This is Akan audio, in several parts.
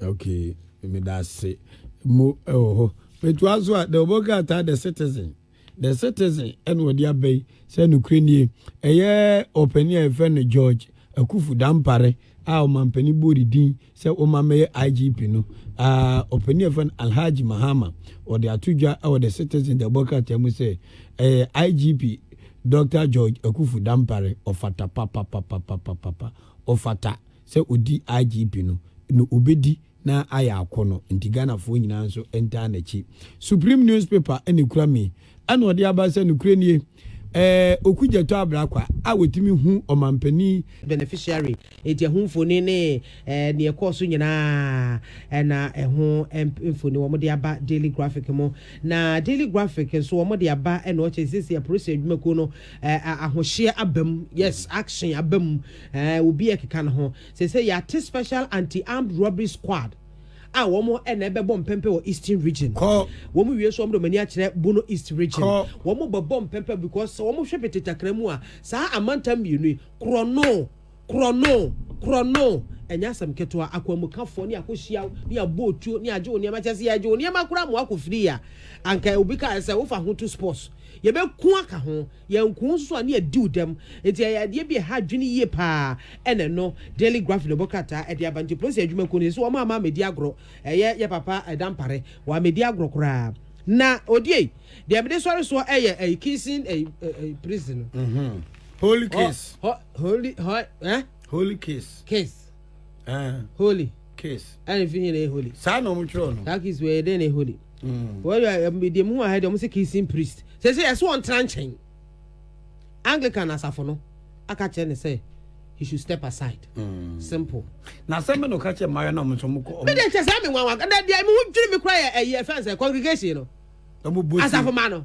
okay meda ase mu ɛwɔ hɔ metoa so a the obo krataa the citizen the citizen ɛna ɔde aba yi sɛ nokura nie ɛyɛ ɔpanin a yɛfrɛ no george akufu dampare a ɔmampanin bɔɔ ne din sɛ wɔma mɛyɛ IGP no, aa ɔpanin a yɛfrɛ no Alhaji Mahama, ɔde ato dwa wɔ The Citizen de abɔ krataa mu sɛ, ɛɛ IGP Dɔkta George Akuffo Dampare, ɔfata papapapapapapa, ɔfata sɛ ɔdi IGP no, na ɔbɛdi na ayɛ akɔnɔ, nti Ghanafoɔ nyinaa nso ntaa n'akyi. Supreme Newspaper na ɛkura me. Ɛna ɔde aba sɛ nokorɛ nie ɛɛ oku gyatɔ abra kwa a wɔtumi hu ɔmanpanin. Beneficiary enti ɛho mfoni ne ɛɛ neɛ ɛkɔɔ so nyinaa ɛna ɛho mfoni wɔn de aba daily graphic mo na daily graphic nso wɔn de aba ɛna ɔkyɛ sisi apolisi adwumakuo no ɛɛ ahohyeɛ abam yes action abam ɛɛ obi ɛkeka ne ho sɛsɛ yɛate special anti armed robbery squad. a wɔn na ɛbɛbɔ mpɛmpɛ wɔ eastern region wɔn wie so wɔn de wɔn ani akyerɛ bono east region wɔn bɛbɔ mpɛmpɛ because sɛ wɔn hwɛ petetakra mu a saa amantam mmienu yi korɔ no korɔ no korɔ no ɛnyɛ asɛm ketewa akwanmukafoɔ ne akɔhyia ne abɔ otuo ne agye wo nneɛma kyɛ sɛ yɛagye wo nneɛma koraa ma wakɔ firi a anka obi kaa sɛ wofa ho to sports yɛbɛku aka ho Yɛn nko nso a ne yɛadiw dɛm, enti ɛyɛ adeɛ bi a ɛha adwene yie pa ara, ɛna ɛno Daily Graph de bɔ krataa de aba. Nti polisi adwumakuo no se sɛ wɔamma ammɛdi agorɔ, ɛyɛ yɛn papa Dampare, wammɛdi agorɔ koraa. Na odie? Deɛ mede sɔre soɔ yɛ ɛyi Kingston ɛyi ɛyi prison no. Holy Case. Hɔ hɔ Holy hɔ eh? Holy Case. Case. Ah. Holy. Kiss. And if you know holy. Saa na wɔn twerɛ no. That kiss wɔ yɛ dɛ na holy. Mm. Wɔn yɛ ɛmu deɛ mu wɔ ha deɛ wɔn sɛ kissing priest. Sɛ sɛ ɛsɛ wɔn tena nkyɛn. Anglican asafo no aka kyerɛ ne sɛ he should step aside. Mm. Simple. Na sɛ mi na ɔka kyerɛ mmaa yɛ na wɔn nso wɔn kɔ. Mi de kyɛ sɛ mi nwanwa na deɛ mi ho dwiri mi kura yɛ ɛyɛ fɛn sɛ congregation no. Asafo ma no.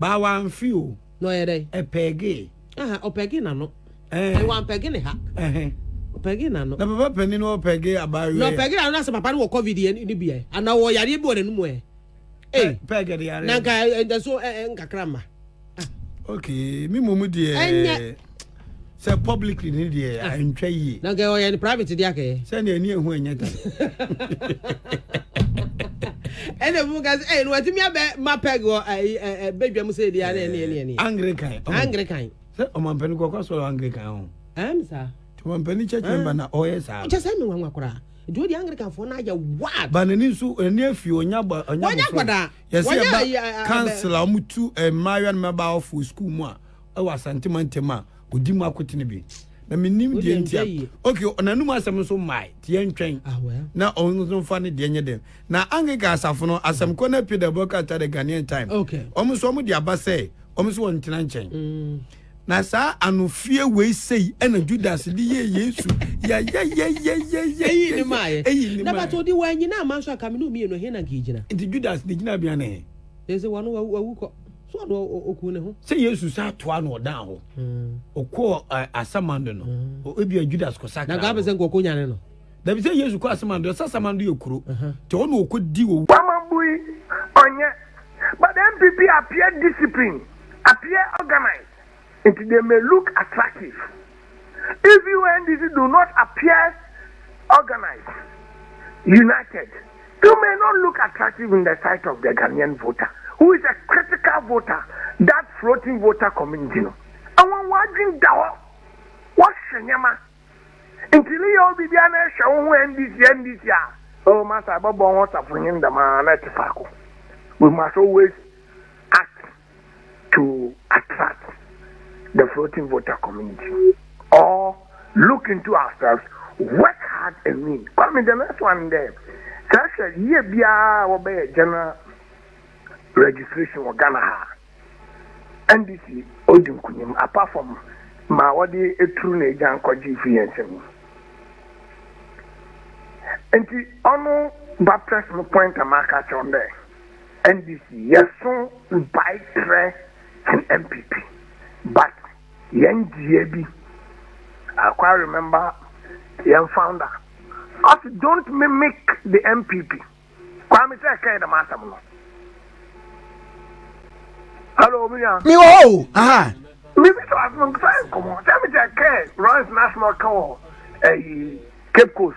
baa wamfe o na ɔyɛ dɛ ɛpɛgee ɔpɛgee n'ano wampɛge ne ha ɔpɛgee n'ano na papa panin no ɔpɛgee abaayewa na ɔpɛgee n'ano sɛ papa no wɔ covid yɛ ne bi yɛ ana wɔ yareɛ bi wɔ n'anum ɛ pɛgɛ de yareɛ na nka nkakra ma okay mi mu mu deɛ ɛnyɛ sɛ publicly ne deɛ ah. antwa yie na nkɛ ɔyɛ no private deɛ akɛyɛ sɛdeɛ ɛne ɛho ɛnyɛ ta ɛna mu ka sɛ ɛyɛ no watumi abɛ ma pɛg wɔ bɛdwa mu sɛ ɛdi ana ɛne ɛne ɛne anglican anglican sɛ ɔmampani kɔkɔ sɔrɔ anglican ho ɛm saa ɔmampani church member na ɔyɛ saa kyɛ sɛ me nwanwa koraa duo di anglican fo na yɛ wad. banani nso ɛni efi onya bɔ onya bɔ fɔ yɛsɛ yɛ ba kansila ɔmu tu mmayewa no mɛba ɔfo sukuu mu a. wɔ Asante mantam a ɔdi mu akote no bi na menim deɛ nti a ok ɔnanum asɛm nso mmae nti yɛntwɛn ah, na ɔno nso mfa ne deɛ nyɛ dɛm na Anglican asafo no asɛm kɔ na pie the broadcast the Ghanaian time wɔn nso wɔn de aba sɛ wɔn nso wɔn ntena nkyɛn mm. na saa anofie wei sei ɛna Judas de yɛ Yesu yɛyɛyɛyɛyɛyɛ eyi ne maa yɛ eyi ne maa yɛ na bàtò di wɔn anyina amanso akaminu mmienu hin na nkì gyina nti Judas de gyina bia ne. ɛsɛ wɔn wɔn awukɔ. So ɔde ɔkuu ne ho. Sɛ Yesu sa atoa na ɔdan hɔ. Ɔkɔɔ hmm. asamando no. Hmm. Ebi a Judas kɔ sakra. Na gabe sɛ nkɔkɔ nyane no. Dabi sɛ Yesu kɔ asamando, ɛsɛ asamando yɛ kuro. Te ɔno ɔkɔ di owu. Wamabui ɔnyɛ. But NPP appear discipline, appear organized. Nti they may look attractive. If you and DC do not appear organized, united, you may not look attractive in the sight of the Ghanaian voter who is a critical voter, that floating voter community no. Ɛwɔn wɔadwen da hɔ, wɔhwɛ nneɛma. Nti ne yɛ obi biara na ɛhwɛ wo ho NDC NDC a, oh masa ɛbɛbɔ ho safonyin dɛm a na ɛte faako. We must always act to attract the floating voter community or look into ourselves work hard and win kwame the next one dɛ sɛ hwɛ yie biara wɔbɛyɛ general registration wɔ ghana ha ndc odi nkunim apart from ma wɔde eturu na egya nkɔgye fi yɛn nsam nti ɔno ba press no point a maka kyerɛ dɛ NDC yɛ so mpae kyerɛ NPP but yɛn gyiyɛ bi I quite remember yɛn founder ɔsi don't mimic the NPP Kwame sɛ ɛkɛɛ dɛm asɛm no hello mi nua mi wɔ hɔ aha mi bi sɛ asɛm sɛ nkɔmɔ sɛ mi sɛ ɛkɛɛ runs national kan wɔ ɛyi Cape Coast.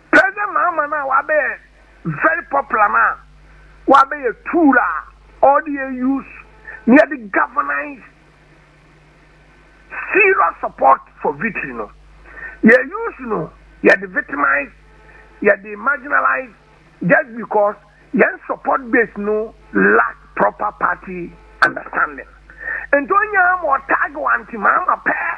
President Mahama no a ɔabɛyɛ very popular no a ɔabɛyɛ tour a ɔde use na yɛde galvanise serious support for victory no, yɛ use no yɛde victimise, yɛde marginalise just because yɛn support base no lack proper party understanding. Nti ɔnyaa ma ɔtag Aunty Mahama pɛɛ.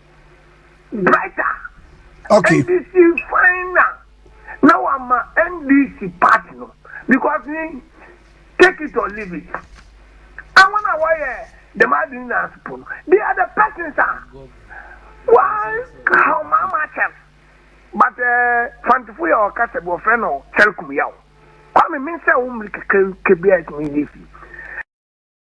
Brighter. Okay. NDC fine na na wama NDC party no because ni take it or leave it. Àwọn a wɔyɛ dɛm adwene na asopɔ no they are the persons a wɔn ahomaama akyɛm but ɛɛ eh, fantefo yɛ ɔkasa bi wɔfrɛ no kyɛrkum yaw kwame mensɛ wo mmiri kakra kebea ɛtumi yi fi.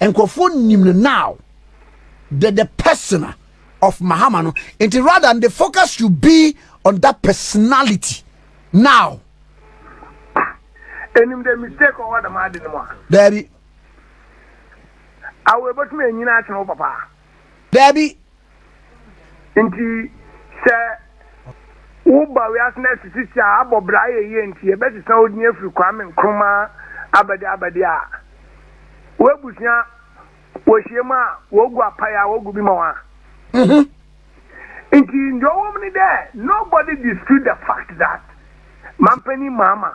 nkurɔfoɔ nim no now the the persona of mahama no nti rather the focus should be on that personality now ɛnim the mistake ɔwɔ dama ade no mu a daabi awo ɛbɛtumi anyina akyerɛ wo papa Daabi. Nti sɛ wo ba wiase na asisi si a abɔ bra ayɛ yie nti yɛ bɛ sesa wo din afiri Kwame Nkrumah abɛde abɛde a wo abusua wɔ hyia mu a wɔ gu apae a wɔ gu bi ma wɔn a. Mhm. Nti ndeɛ ɔwɔ mu ne dɛ nobody dispute the fact that Mampanin Mahama.